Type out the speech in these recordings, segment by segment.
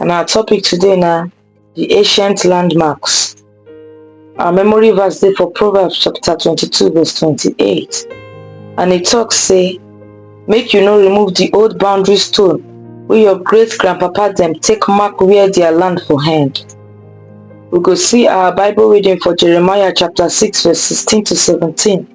And our topic today now, the ancient landmarks. Our memory verse is for Proverbs chapter 22 verse 28. And it talks say, make you no remove the old boundary stone where your great grandpapa them take mark where their land for hand we go see our Bible reading for Jeremiah chapter 6 verse 16 to 17.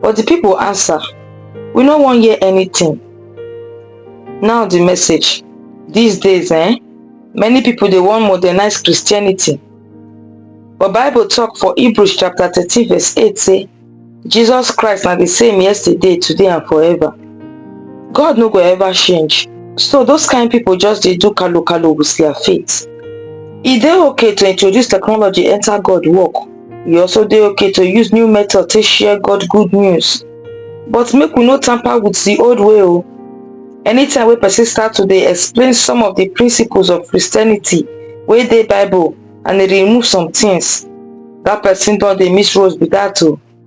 But the people answer, We no wan hear anything. Now the message. These days, eh, many people they want modernize Christianity. But Bible talk for Hebrews chapter 13 verse 8 say, Jesus Christ na the same yesterday, today and forever. God no go ever change. So those kind people just they do kalu kalu with their faith. Is it okay to introduce technology enter God work e also dey okay to use new method to share god good news but make we no tamper with the old way o oh. anytime wey person start to dey explain some of the principles of christianity wey dey bible and e remove some things that person don dey miss road be that o oh.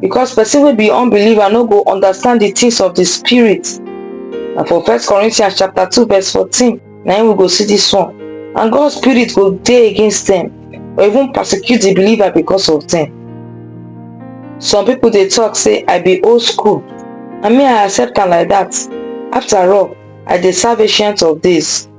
because person will be unbeliever no go understand the things of the spirit and for first corinthians chapter 2 verse 14 now we go see this one and god's spirit will day against them or even persecute the believer because of them some people they talk say i be old school i mean i accept them like that after all i the salvation of this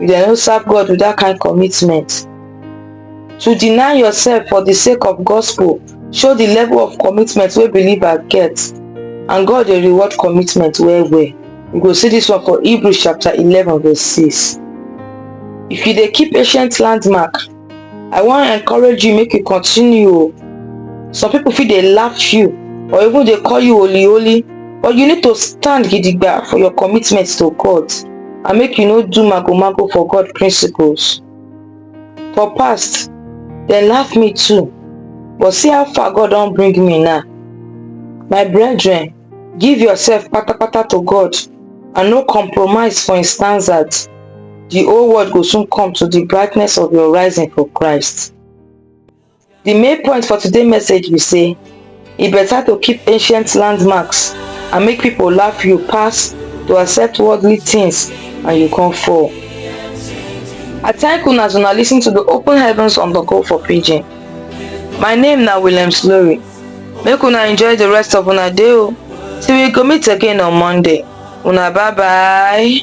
you dey no serve God with that kind commitment. To deny yourself for the sake of gospel show the level of commitment wey believer get and God dey reward commitment well well. You go see this one for Hebrews chapter 11 verse 6. If you dey keep ancient landmark, i wan encourage you make you continue o some people fit dey laugh you or even dey call you holy holy but you need to stand gidigba for your commitment to god and make you no do mago mago for god principles for past dem laugh me too but see how far god don bring me now my brethren give yourself patapata to god and no compromise for him standards di whole world go soon come to di brightness of your rising for christ di main point for today message be say e better to keep ancient landmarks and make people laugh you pass to accept worldly things and you come fall i thank una as una listen to the open heavens on the call for pidgin my name na william slory make una enjoy the rest of una day o till we go meet again on monday una bye bye